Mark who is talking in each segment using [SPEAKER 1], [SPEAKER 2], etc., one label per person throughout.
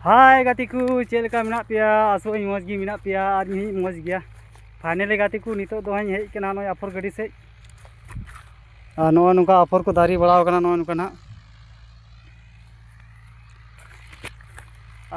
[SPEAKER 1] ᱦᱟᱭ ᱜᱟᱛᱮ ᱠᱚ ᱪᱮᱫ ᱞᱮᱠᱟ ᱢᱮᱱᱟᱜ ᱯᱮᱭᱟ ᱟᱥᱚᱜ ᱟᱹᱧ ᱢᱚᱡᱽ ᱜᱮ ᱢᱮᱱᱟᱜ ᱯᱮᱭᱟ ᱟᱨ ᱤᱧ ᱦᱚᱸᱧ ᱢᱚᱡᱽ ᱜᱮᱭᱟ ᱯᱷᱟᱭᱱᱮᱞᱤ ᱜᱟᱛᱮ ᱠᱚ ᱱᱤᱛᱚᱜ ᱫᱚ ᱦᱟᱸᱜ ᱤᱧ ᱦᱮᱡ ᱠᱟᱱᱟ ᱱᱚᱜᱼᱚᱭ ᱟᱯᱷᱚᱨ ᱜᱟᱹᱰᱤ ᱥᱮᱫ ᱟᱨ ᱱᱚᱜᱼᱚᱭ ᱱᱚᱝᱠᱟ ᱟᱯᱷᱚᱨ ᱠᱚ ᱫᱟᱨᱮ ᱵᱟᱲᱟᱣ ᱠᱟᱱᱟ ᱱᱚᱜᱼᱚᱭ ᱱᱚᱝᱠᱟ ᱱᱟᱦᱟᱜ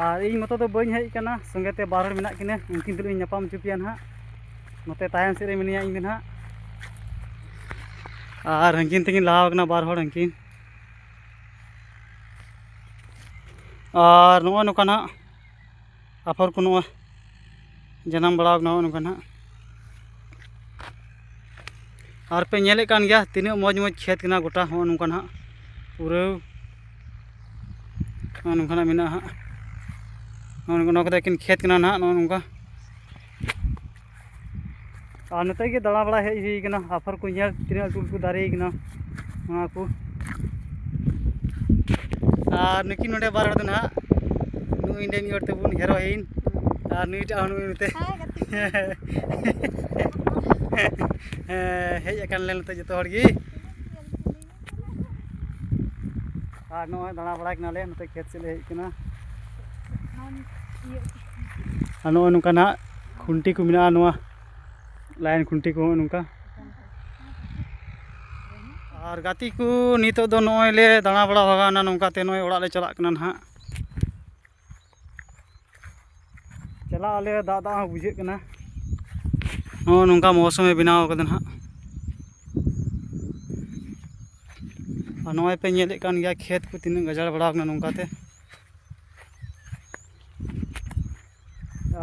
[SPEAKER 1] ᱟᱨ ᱤᱧ ᱢᱚᱛᱚ ᱫᱚ ᱵᱟᱹᱧ ᱦᱮᱡ ᱠᱟᱱᱟ ᱥᱚᱸᱜᱮ ᱛᱮ ᱵᱟᱨ ᱦᱚᱲ ᱢᱮᱱᱟᱜ ᱠᱤᱱᱟᱹ ᱩᱱᱠᱤᱱ ᱛᱩᱞᱩᱡ ᱤᱧ ᱧᱟᱯᱟᱢ ᱦᱚᱪᱚ ᱯᱮᱭᱟ ᱱᱟᱦᱟᱜ ᱱᱚᱛᱮ ᱛᱟᱭᱚᱢ ᱥᱮᱫ ᱨᱮ ᱢᱤᱱᱟᱹᱧᱟ ᱤᱧ ᱫᱚ ᱱᱟᱦᱟᱜ ᱟᱨ ᱦᱟᱹᱱᱠᱤᱱ ᱛᱟᱹᱠᱤᱱ ᱞᱟᱦᱟᱣ ᱠᱟᱱᱟ ᱵᱟᱨ ᱦᱚᱲ ᱦᱟᱹᱱᱠᱤᱱ ᱟᱨ ᱱᱚᱜᱼᱚᱭ ᱱᱚᱝᱠᱟ ᱱᱟᱜ ᱟᱯᱷᱚᱨ ᱠᱚ ᱱᱚᱜᱼᱚᱭ ᱡᱟᱱᱟᱢ ᱵᱟᱲᱟᱣ ᱠᱟᱱᱟ ᱱᱚᱜᱼᱚᱭ ᱱᱚᱝᱠᱟ ᱱᱟᱜ ᱟᱨ ᱯᱮ ᱧᱮᱞᱮᱫ ᱠᱟᱱ ᱜᱮᱭᱟ ᱛᱤᱱᱟᱹᱜ ᱢᱚᱡᱽ ᱢᱚᱡᱽ ᱠᱷᱮᱛ ᱠᱟᱱᱟ ᱜᱚᱴᱟ ᱦᱚᱸᱜᱼᱚ ᱱᱚᱝᱠᱟ ᱱᱟᱜ ᱯᱩᱨᱟᱹ ᱱᱚᱜᱼᱚ ᱱᱚᱝᱠᱟ ᱱᱟᱜ ᱢᱮᱱᱟᱜᱼᱟ ᱦᱟᱸᱜ ᱱᱚᱜᱼᱚ ᱱᱚᱣᱟ ᱠᱚᱫᱚ ᱮᱠᱮᱱ ᱠᱷᱮᱛ ᱠᱟᱱᱟ ᱱᱟᱜ ᱱᱚᱜᱼᱚ ᱱᱚᱝᱠᱟ ᱟᱨ ᱱᱚᱛᱮ ᱜᱮ ᱫᱟᱬᱟ ᱵᱟᱲᱟ ᱦᱮᱡ ᱦᱩᱭ ᱠᱟᱱᱟ ᱟᱯᱷᱚᱨ ᱠᱚ ᱧᱮᱞ ᱛᱤᱱᱟᱹᱜ ᱞᱟᱹᱴᱩ ᱞᱟᱹᱴᱩ ᱫᱟᱨᱮ ᱠᱟᱱᱟ ᱱᱚᱣᱟ ᱠᱚ ᱟᱨ ᱱᱩᱠᱤᱱ ᱱᱚᱰᱮ ᱵᱟᱨ ᱦᱚᱲ ᱫᱚ ᱱᱟᱦᱟᱜ ᱱᱩᱭ ᱱᱚᱰᱮ ᱢᱤᱫ ᱦᱚᱲ ᱛᱟᱵᱚᱱ ᱦᱮᱨᱳᱭᱤᱱ ᱟᱨ ᱱᱩᱭᱴᱟᱜ ᱦᱚᱸ ᱱᱩᱭ ᱱᱚᱛᱮ ᱦᱮᱡ ᱟᱠᱟᱱ ᱞᱮ ᱱᱚᱛᱮ ᱡᱚᱛᱚ ᱦᱚᱲ ᱜᱮ ᱟᱨ ᱱᱚᱜᱼᱚᱭ ᱫᱟᱬᱟ ᱵᱟᱲᱟᱭ ᱠᱟᱱᱟᱞᱮ ᱱᱚᱛᱮ ᱠᱷᱮᱛ ᱥᱮᱫ ᱞᱮ ᱦᱮᱡ ᱠᱟᱱᱟ ᱟᱨ ᱱᱚᱜᱼᱚᱭ ᱱᱚᱝᱠᱟ ᱱᱟᱦᱟᱜ ᱠᱷᱩᱱᱴᱤ ᱠᱚ ᱢᱮᱱᱟᱜᱼᱟ ᱱᱚᱣᱟ ᱞᱟᱭᱤᱱ ᱠᱷᱩᱱᱴᱤ ᱠᱚ ᱱᱚᱜᱼᱚᱭ ᱱᱚᱝᱠᱟ ᱟᱨ ᱜᱟᱛᱮ ᱠᱚ ᱱᱤᱛᱚᱜ ᱫᱚ ᱱᱚᱜᱼᱚᱭ ᱞᱮ ᱫᱟᱬᱟ ᱵᱟᱲᱟ ᱵᱷᱟᱜᱟᱣᱱᱟ ᱱᱚᱝᱠᱟᱛᱮ ᱱᱚᱜᱼᱚᱭ ᱚᱲᱟᱜ ᱞᱮ ᱪᱟᱞᱟᱜ ᱠᱟᱱᱟ ᱱᱟᱦᱟᱜ ᱪᱟᱞᱟᱜ ᱟᱞᱮ ᱫᱟᱜ ᱫᱟᱜ ᱦᱚᱸ ᱵᱩᱡᱷᱟᱹᱜ ᱠᱟᱱᱟ ᱱᱚᱜᱼᱚ ᱱᱚᱝᱠᱟ ᱢᱚᱣᱥᱚᱢᱮ ᱵᱮᱱᱟᱣ ᱠᱟᱫᱟ ᱱᱟᱦᱟᱜ ᱟᱨ ᱱᱚᱜᱼᱚᱭ ᱯᱮ ᱧᱮᱞᱮᱫ ᱠᱟᱱ ᱜᱮᱭᱟ ᱠᱷᱮᱛ ᱠᱚ ᱛᱤᱱᱟᱹᱜ ᱜᱟᱡᱟᱲ ᱵᱟᱲᱟᱣ ᱠᱟᱱᱟ ᱱᱚᱝᱠᱟᱛᱮ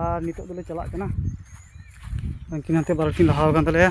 [SPEAKER 1] ᱟᱨ ᱱᱤᱛᱚᱜ ᱫᱚᱞᱮ ᱪᱟᱞᱟᱜ ᱠᱟᱱᱟ ᱩᱱᱠᱤᱱ ᱦᱟᱱᱛᱮ ᱵᱟᱨᱚᱴᱤ ᱞᱟᱦᱟᱣ ᱠᱟᱱ ᱛᱟᱞᱮᱭᱟ